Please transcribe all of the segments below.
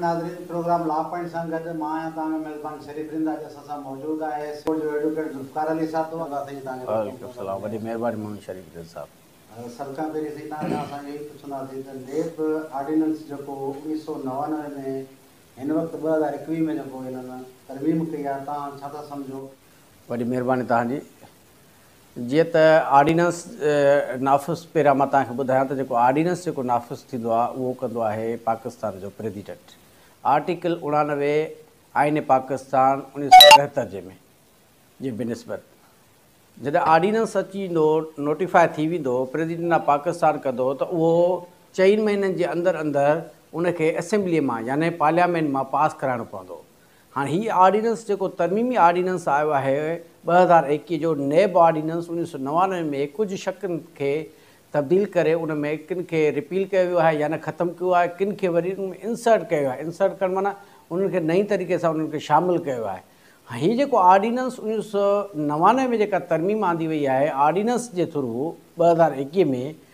ناظرين programme La Point سان گڏ مان آهيان توهان جو ميزبان شريف رند اڄ اسان سان موجود آهي اسڪول جو ايڊوڪيٽ ذوالفقار علي صاحب دعا ڪندا سائين توهان جي واري وعليڪم السلام وڏي مهرباني مون شريف رند صاحب. سڀ کان پهرين سائين توهان کان اسان اهو ئي پڇندا سين ته نيب آرڊيننس جيڪو اوڻيهه سؤ نوانوي ۾ هن وقت ٻه هزار ايڪويهه ۾ جيڪو هنن ترميم ڪئي آهي توهان ڇا ٿا سمجهو؟ وڏي مهرباني توهان جي. جيئن ته آرڊيننس نافذ پهريان مان توهان کي ٻڌايان ته جيڪو آرڊيننس جيڪو نافذ ٿيندو آهي اهو ڪندو آهي پاڪستان جو پريزيڊنٽ آرٽيڪل اڻانوي آئين پاڪستان اڻويهه سؤ ٽيهتر جي ۾ جي بنسبت جڏهن آرڊيننس اچي ويندو نوٽيفاء ٿي ويندو پريزيڊنٽ آف پاڪستان ڪندو ته اهو چئن مهينن جي اندر اندر ان کي اسيمبلي مان يعني پارليامينٽ مان پاس ڪرائڻو پوندو هاڻ هي آرڊيننس جيڪو ترميمي آرڊيننس آيو آهي ٻه هزار ايڪيهه جو نيب آرڊيننس اڻويهه سؤ نوانوي ۾ ڪجهه شقن کي تبديل ڪري ان ۾ ڪن کي رپيل ڪيو ويو آهي يعني ختم ڪيو آهي ڪن کي وري ان ۾ انسرٽ ڪيو ويو آهي انسرٽ ڪرڻ معنيٰ انهن کي نئين طريقي سان انهن کي شامل ڪيو ويو آهي هاڻ هي جيڪو آرڊيننس اڻويهه سؤ نوانوي ۾ جيڪا ترميم آندي وئي آهي آرڊيننس جي ٿرو ٻه هزار ايڪيهه ۾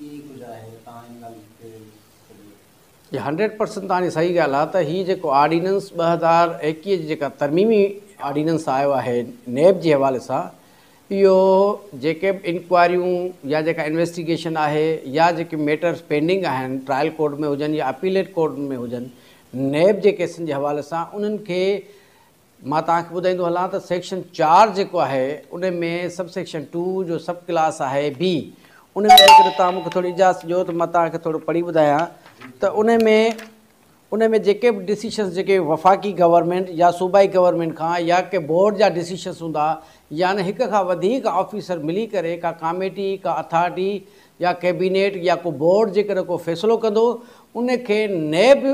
ئي ڪجهه آهي تان ان ڳالهه کي سڄو. جي هنڊريڊ پرسنٽ توهانجي صحيح ڳالهه آهي ته هي جيڪو آرڊيننس ٻه هزار ايڪيهه جي جيڪا ترميمي آرڊيننس آيو آهي نيب جي حوالي سان اهو جيڪي به انڪوائريون يا جيڪا انويسٽيگيشن آهي يا جيڪي ميٽرس پينڊنگ آهن ٽرائل ڪورٽ ۾ هجن يا اپيليٽ ڪورٽن ۾ هجن نيب جي ڪيسن جي حوالي سان انهن کي مان توهان کي ٻڌائيندو هلان ته سيڪشن چار جيڪو آهي ان ۾ سب سيڪشن ٽو جو سب ڪلاس آهي بي ان ۾ جيڪڏهن توهان مون کي ٿوري اجازت ڏيو ته مان توهان کي ٿورو پڙهي ٻڌايان ته ان ۾ ان ۾ جيڪي به ڊسيشنس جيڪي وفاقي گورنمنٽ يا صوبائي گورنمنٽ کان يا ڪي بورڊ جا ڊسيشنس هوندا يا نه هڪ کان وڌيڪ آفيسر ملي ڪري ڪا ڪاميٽي ڪا اٿارٽي يا ڪيبينيٽ يا ڪو بورڊ جيڪڏهن ڪو فيصلو ڪندو ان کي نيب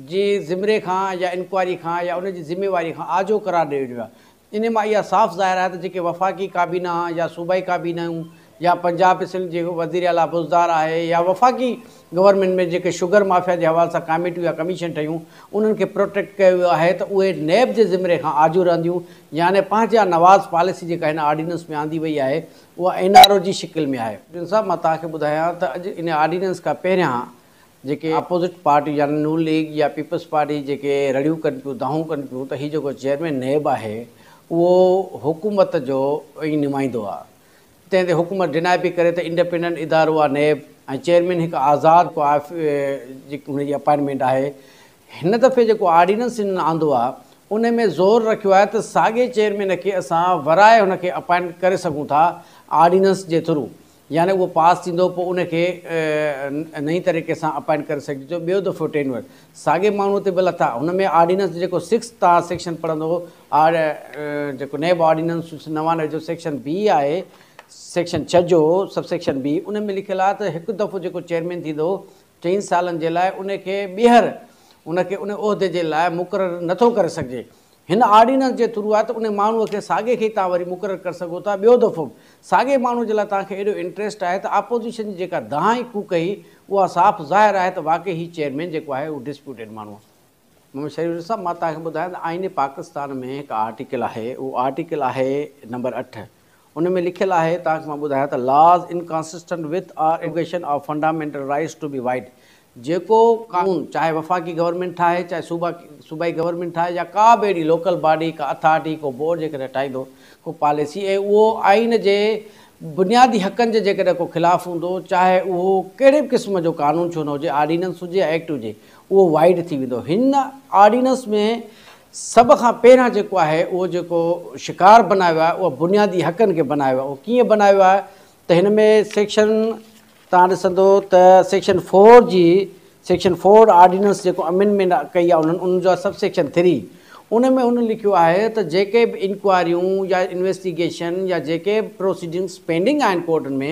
جي زمري کان يا انڪوائري کان يا ان جي ذميواري کان آجو قرار ڏيو وڃي ها. انهي مان اها صاف ظاهر آهي ته جيڪي وفاقي ڪابينا يا صوبائي ڪابينائون يا پنجاب ۽ سنڌ جي وزير اعليٰ بوزدار آهي يا وفاقي گورنمينٽ ۾ جيڪي شگر مافيا جي حوالي سان ڪاميٽيون يا ڪميشن ٺهيون انهن کي پروٽيڪٽ ڪيو ويو آهي ته اهي نيب جي ذمري کان آجو رهنديون يعني پنهنجا نواز پاليسي جيڪا هن آرڊيننس ۾ آندي وئي آهي اها اين آر او جي شڪل ۾ آهي. جن صاحب مان توهان کي ٻڌايان ته اڄ انهي آرڊيننس کان پهريان جيڪي اپوزٽ پارٽي يعني نون ليگ يا پيپلز پارٽي جيڪي رڙيون ڪن پيون دانهون ڪن پيون ته هي جيڪو چيئرمين نيب آهي اهو حڪومت جو ئي نمائندو آهي تنهن تي حڪومت ڊنائي پئي ڪري ته انڊپينڊنٽ ادارو آهي نيب ۽ چيئرمين هڪ آزاد جيڪي هن جي اپائنٽمينٽ آهي هن دفعي جيڪو آرڊيننس هنن آندو آهي ان ۾ زور رکيو آهي ته ساڳئي چيئرمين کي اسان ورائي هن کي اپائنٽ ڪري سگهون ٿا آرڊيننس جي ٿرو يعني اهو پاس ٿيندو پوء ان کي نئين طريقي سان اپائنٽ ڪري سگهجي ٿو ٻيو دفعو ٽينيور ساڳي ماڻهو تي به لٿا هن ۾ آرڊيننس جيڪو سڪس تان سيڪشن پڙهندو آرڊ جيڪو نيب آرڊيننس نوانوي جو سيڪشن بي آهي سيڪشن ڇهه جو سب سيڪشن بي ان ۾ لکيل آهي ته هڪ دفعو جيڪو چيئرمين ٿيندو چئن سالن جي لاء ان کي ٻيهر ان کي ان عهدي جي لاء مقرر نه ٿو ڪري سگهجي. هن آرڊيننس جي ٿرو آهي ته ان ماڻهوء کي ساڳئي کي ئي توهان وري مقرر ڪري سگهو ٿا. ٻيو دفعو به ساڳئي ماڻهوء جي لاء توهان کي ايڏو انٽريسٽ آهي ته آپوزيشن جي جيڪا دانهن ڪوڪ هئي اها صاف ظاهر آهي ته واقعي هي چيئرمين جيڪو آهي اهو ڊسپيوٽيڊ ماڻهو آهي. محمد شريف صاحب مان توهان کي ٻڌايان ته آئين پاڪستان ۾ هڪ آرٽيڪل آهي اهو آرٽيڪل آهي نمبر اٺ ان ۾ لکيل آهي توهان کي مان ٻڌايان ته Laws Inconsistent With Our Invocation Of Fundamental Rights To Be White جيڪو قانون چاهي وفاقي گورنمينٽ ٺاهي چاهي صوبا صوبائي گورنمينٽ ٺاهي يا ڪا به اهڙي لوڪل باڊي ڪا اٿارٽي ڪو بورڊ جيڪڏهن ٺاهيندو ڪو پاليسي ۽ اهو آئين جي بنيادي حقن جي جيڪڏهن ڪو خلاف هوندو چاهي اهو ڪهڙي به قسم جو قانون ڇو نه هجي آرڊيننس هجي يا ايڪٽ هجي اهو وائيڊ ٿي ويندو. هن آرڊيننس ۾ سڀ کان پهريان جيڪو آهي اهو جيڪو شڪار بنايو آهي اهو بنيادي حقن کي بنايو آهي اهو ڪيئن بنايو آهي ته هن ۾ سيڪشن تان ڏسندو ته سيڪشن فور جي سيڪشن فور آرڊيننس جيڪو امينمينٽ ڪئي آهي انهن ان جو آهي سب سيڪشن ٿري ان ۾ هن لکيو آهي ته جيڪي به انڪوائريون يا انويسٽيگيشن يا جيڪي به پروسيڊنگس پينڊنگ آهن ڪورٽن ۾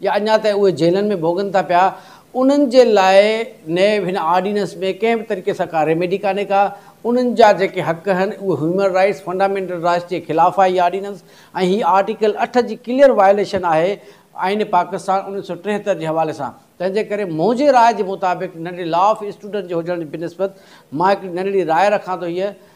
يا اڃا تائين اهي جيلن ۾ ڀوڳن ٿا پيا انهن جي لاء نئين هن آرڊيننس ۾ ڪنهن به طريقي سان ڪا ريميڊي ڪانهي ڪا انهن جا جيڪي حق آهن اهي هيومن رائيٽس فنڊامينٽل رائيٽس جي خلاف آهي هي آرڊيننس ۽ هي آرٽيڪل اٺ جي ڪليئر وائليشن آهي آئين پاڪستان اڻويهه سؤ ٽيهتر جي حوالي سان تنهن جي ڪري منهنجي راء جي مطابق ننڍڙي لا آف اسٽوڊنٽ جي هجڻ جي بنسبت مان هڪڙي ننڍڙي راء رکان ٿو هيء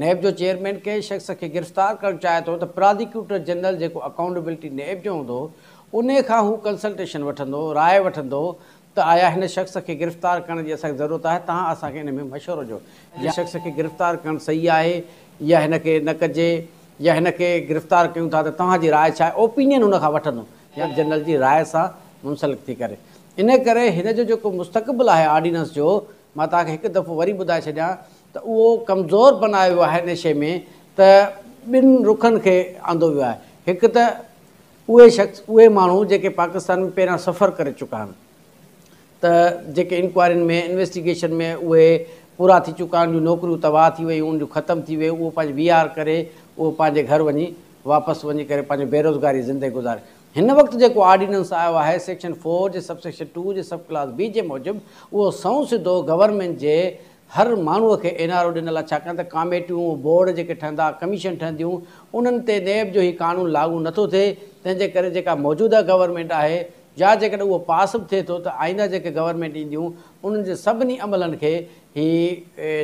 نيب جو چيئرمين ڪنهن شخص کي گرفتار ڪرڻ چاهي ٿو ته پرازيڪيوٽر جنرل جيڪو اڪائونٽيبلٽي نيب جو هوندو ان کان هو ڪنسلٽيشن وٺندو، راء وٺندو ته آيا هن شخص کي گرفتار ڪرڻ جي اسان کي ضرورت آهي تهان اسان کي ان ۾ مشورو ڏيو ته هن شخص کي گرفتار ڪرڻ صحيح آهي يا هن کي نه ڪجي يا هن کي گرفتار ڪيون ٿا ته توهان جي راء ڇا آهي اوپينين هن کان وٺندو يا جنرل جي راء سان منسلڪ ٿي ڪري ان ڪري هن جو جيڪو مستقبل آهي آرڊيننس جو مان توهان کي هڪ دفعو وري ٻڌائي ڇڏيان ته اهو ڪمزور بنايو ويو آهي نشي ۾ ته ٻن رخن کي آندو ويو آهي هڪ ته اهي شخص اهي ماڻهو جيڪي پاڪستان ۾ پهريان سفر ڪري چڪا آهن ته جيڪي انڪوائرين ۾ انويسٽيگيشن ۾ اهي پورا ٿي چڪا آهن ان جون نوڪريون تباهه ٿي ويون ان جون ختم ٿي ويون اهو پنهنجي وي آر ڪري اهو پنهنجي گهر وڃي واپس وڃي ڪري پنهنجو بيروزگاري زندگي گذاري هن وقت جيڪو آرڊيننس آيو آهي سيڪشن فور جي سب سيڪشن ٽو جي سب ڪلاس بي جي موجب اهو سنئون سڌو گورنمينٽ جي هر ماڻهو کي اين آر او ڏنل آهي ڇاڪاڻ ته ڪاميٽيون، بورڊ جيڪي ٺهندا، ڪميشن ٺهنديون انهن تي نيب جو هي قانون لاڳو نه ٿو ٿئي تنهن جي ڪري جيڪا موجوده گورنمينٽ آهي يا جيڪڏهن اهو پاس به ٿئي ٿو ته آئنده جيڪي گورنمينٽ اينديون انهن جي سڀني عملن کي هي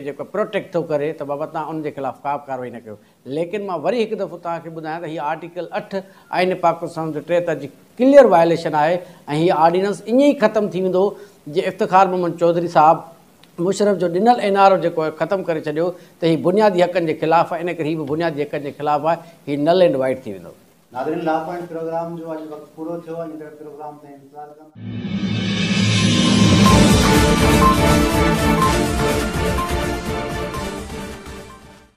جيڪو پروٽيڪٽ ٿو ڪري ته بابا توهان انهن جي خلاف ڪا به ڪارروائي نه ڪيو ليڪن مان وري هڪ دفعو توهان کي ٻڌايان ته هي آرٽيڪل اٺ آئين پاڪستان جو ٽيهتر جي ڪليئر وائليشن آهي ۽ هي آرڊيننس ائين ئي ختم ٿي ويندو جي افتخار محمد چوڌري صاحب مشرف جو ڏنل اين آر او جيڪو ختم ڪري ڇڏيو ته هي بنيادي حقن جي خلاف آهي انڪري هي به بنيادي حقن جي خلاف آهي هي نل اينڊ وائيڊ ٿي ويندو. ناظرين لا پوائنٽ پروگرام جو اڄ وقت پورو ٿيو آهي ايندڙ پروگرام تائين انتظار ڪندا.